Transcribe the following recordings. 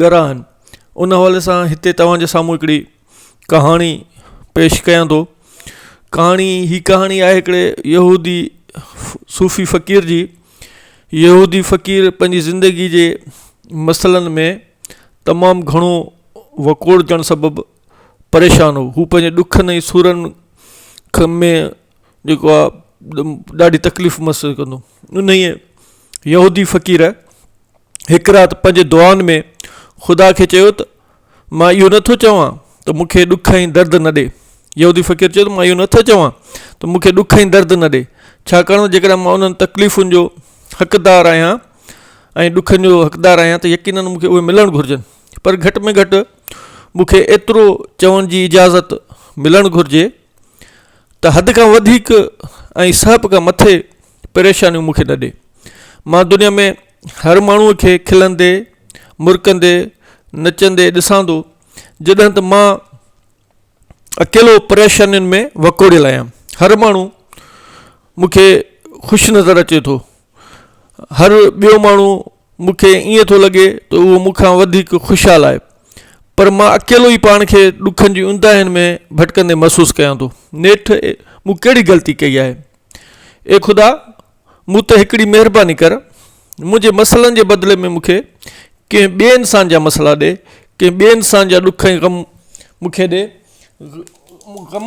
ڳرا آهن ان حوالي سان هتي توهان جي سامهون هڪڙي ڪهاڻي پيش ڪيان ٿو ڪهاڻي هي ڪهاڻي آهي هڪڙي يهودي صوفي فقير جي يهودي فقير پنهنجي زندگي جي مسئلن ۾ تمام گهڻو وڪوڙجڻ سبب پريشان هو هو پنهنجي ڏکن ۽ سورن کم ۾ جيڪو آ ڏاڍي تڪليف محسوس ڪندو انهيء يهودي فقير هڪ رات پنهنجي دعائن ۾ خدا کي چيو ته مان اهو نٿو چوان ته مون کي ڏک ۽ درد نه ڏي يهودي فقير چيو ته مان اهو نٿو چوان ته مون کي ڏک ۽ درد نه ڏي ڇاڪاڻ ته جيڪڏهن مان انهن تڪليفن جو حقدار آهيان ۽ ڏکن جو حقدار آهيان ته يقينن مون کي اهي ملڻ گهرجن پر گهٽ ۾ گهٽ مون کي ايترو چوڻ جي اجازت ملڻ گهرجي ته حد کان وڌيڪ ۽ سهپ کان مٿي پريشانيون مون کي نه ڏي. مان دنيا ۾ هر ماڻهوء کي کلندي، مرڪندي، نچندي ڏسان ٿو، جڏهن ته مان اڪيلو پريشانين ۾ وڪوڙيل آهيان. هر ماڻهو مون کي خوش نظر اچي ٿو. هر ٻيو ماڻهو مون کي ائين ٿو لڳي ته اهو مون کان وڌيڪ خوشحال آهي. پر مان اڪيلو ئي پاڻ کي ڏکن جي اونداهين ۾ ڀٽڪندي محسوس ڪيان ٿو. نيٺ مون ڪهڙي غلطي ڪئي آهي؟ اي خدا! مون تي هڪڙي مهرباني ڪر. منهنجي مسئلن جي بدلي ۾ مون کي ڪنهن ٻئي انسان جا مسئلا ڏي. ڪنهن ٻئي انسان جا ڏک ۽ غم مون کي ڏي. غم.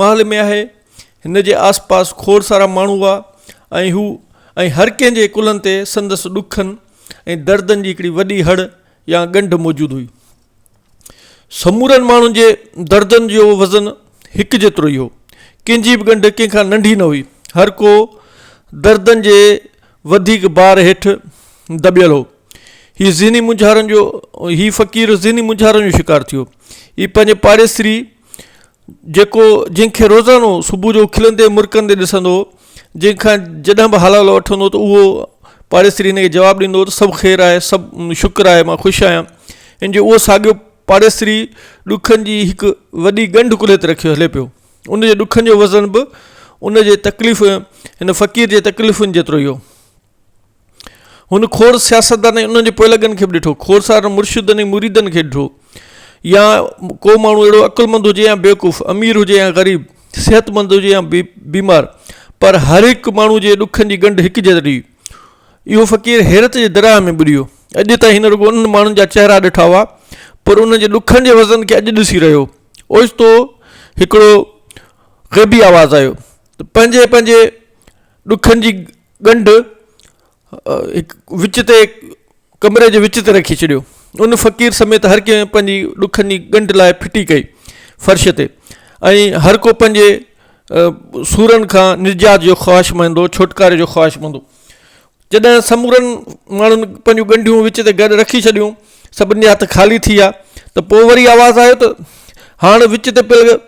محل ۾ آهي. هن جي آس پاس کوڙ سارا ماڻهو هئا ۽ هو ۽ هر ڪنهن جي ڪلهن تي سندس ڏکن ۽ دردن جي هڪڙي وڏي هڙ يا ڳنڍ موجود هئي. سمورن ماڻهن جي دردن جو وزن هڪ جيترو ئي هو. ڪنهن جي به ڳنڍ ڪنهن کان ننڍي نه هئي. هر ڪو دردن جي وڌيڪ بار هيٺ دٻيل هو. هي ذهني مونجهارن جو هي فقير ذهني مونجهارن جو شڪار ٿيو. هي پنهنجي پاڙيسري جيڪو جنهن کي روزانو صبح جو کلندي مرڪندي ڏسندو هو جنهن کان جڏهن به حلالو وٺندو ته اهو پاڙيسري ان کي جواب ڏيندو هو ته سڀ خير آهي سڀ شڪر آهي مان خوش آهيان ان جو اهو ساڳيو پاڙيسري ڏکن جي هڪ وڏي ڳنڍ ڪلهي تي رکي هلي پيو ان جي ڏکن جو وزن به ان جي تڪليف ان فقير جي تڪليفن جيترو ئي هو هن کوڙ سياستدان ۽ انهن جي پوئلڳن کي به ڏٺو، کوڙ سارن مرشدن ۽ مريدن کي ڏٺو. يا ڪو ماڻهو اهڙو عقلمند هجي يا بيوقوف، امير هجي يا غريب، صحتمند هجي يا بيمار، پر هر هڪ ماڻهو جي ڏکن جي ڳنڍ هڪ جهڙي هئي. اهو فقير حيرت جي درياهه ۾ ٻڏيو. اڄ تائين هن رڳو انهن ماڻهن جا چهرا ڏٺا هئا، پر انهن جي ڏکن جي وزن کي اڄ ڏسي رهيو هو. اوچتو هڪڙو غيبي آواز آيو ته پنهنجي پنهنجي ڏکن جي ڳنڍ وچ تي ڪمري جي وچ تي رکي ڇڏيو ان فقير سميت هر ڪنهن پنهنجي ڏکن جي ڳنڍ لاء ڦٽي ڪئي فرش تي ۽ هر ڪو پنهنجي سورن کان نجات جو خواهش مندو ڇوٽڪاري جو خواهش مندو جڏهن سمورن ماڻهن پنهنجون ڳنڍيون وچ تي گڏ رکي ڇڏيون سڀني جا هٿ خالي ٿي ويا ته پوء وري آواز آيو ته هاڻ وچ تي پيل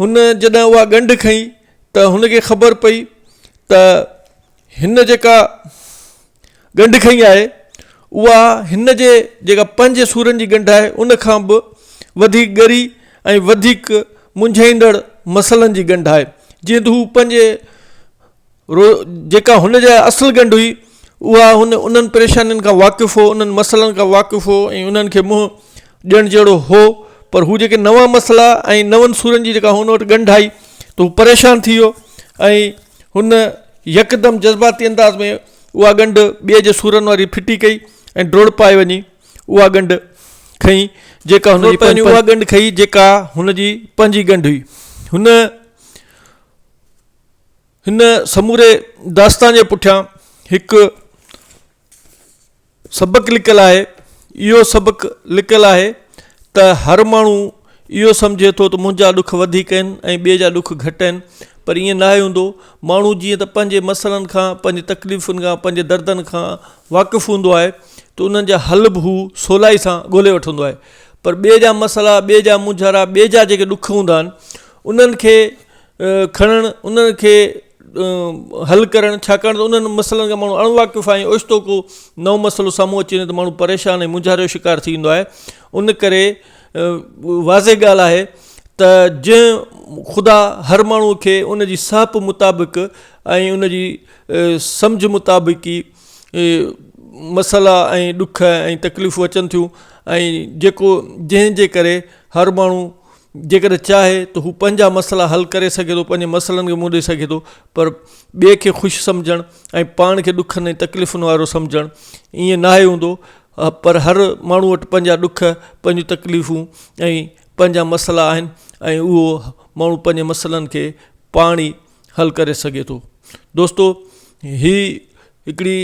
هن جڏهن اها ڳنڍ کنئي ته هن کي خبر پئي ته هن جيڪا ڳنڍ کنئي آهي اها هن جي جيڪا پنج سورن جي ڳنڍ آهي ان کان به وڌيڪ ڳري ۽ وڌيڪ منجهائيندڙ مسئلن جي ڳنڍ آهي جيئن ته هو پنهنجي رؤ جيڪا هن جا اصل ڳنڍ هئي اها هن انهن پريشانين کان واقف هو انهن مسئلن کان واقف هو ۽ انهن کي منهن ڏيڻ جهڙو هو پر هو جيڪي نوان مسئلا ۽ نون سورن جي جيڪا هن وٽ ڳنڍ آئي ته هو پريشان ٿي ويو ۽ هن يڪدم جذباتي انداز ۾ اها ڳنڍ ٻئي جي سورن واري ڦٽي ڪئي ۽ ڊوڙ پائي وڃي اها ڳنڍ کئي جيڪا هن جي اها ڳنڍ کئي جيڪا هن جي پنهنجي ڳنڍ هئي هن هن سموري داستان جي پٺيان هڪ سبق لڪل آهي اهو سبق لڪل آهي ته هر ماڻهو اهو سمجهي ٿو ته منهنجا ڏک وڌيڪ آهن ۽ ٻئي جا ڏک گهٽ آهن پر ائين ناهي هوندو ماڻهو جيئن ته پنهنجي مسئلن کان پنهنجي تڪليفن کان پنهنجي دردن کان واقف هوندو آهي ته انهن جا حل به هو سولائي سان ڳولهي وٺندو آهي پر ٻئي جا مسئلا ٻئي جا مونجهارا ٻئي جا جيڪي ڏک هوندا آهن انهن کي کڻڻ انهن کي حل ڪرڻ ڇاڪاڻ ته انهن مسئلن کان ماڻهو اڻ واقف آهي اوچتو ڪو نئون مسئلو سامهون اچي وڃي ته ماڻهو پريشان ۽ مونجهاري جو شڪار ٿي ويندو آهي ان ڪري واضح ڳالهه آهي ته جنهن خدا هر ماڻهو کي ان جي ساهپ مطابق ۽ ان جي سمجهه مطابق ئي مسئلا ۽ ڏک ۽ تڪليفون اچن ٿيون ۽ جيڪو جنهن جي ڪري هر ماڻهو جيڪڏهن چاهي ته هو پنهنجا مسئلا حل ڪري سگهي ٿو پنهنجي مسئلن کي منهن ڏئي سگهي ٿو پر ٻئي کي خوش سمجهڻ ۽ پاڻ کي ڏکن ۽ تڪليفن وارو سمجهڻ ائين ناهي هوندو پر هر ماڻهو وٽ پنهنجا ڏک پنهنجون تڪليفون ۽ پنهنجا مسئلا آهن ۽ اهو ماڻهو پنهنجي مسئلن کي پاڻ ئي حل ڪري سگهي ٿو دوستو هي هڪڙي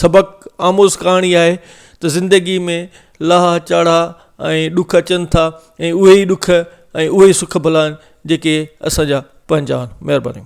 سبق آموز ڪهاڻي آهي ته زندگي ۾ لاها چاڙها ۽ ڏک اچن ٿا ۽ اهي ئي ڏک ۽ اهي ئي سک ڀلا آهن جيڪي اسان جا پنهنجا آهن مهرباني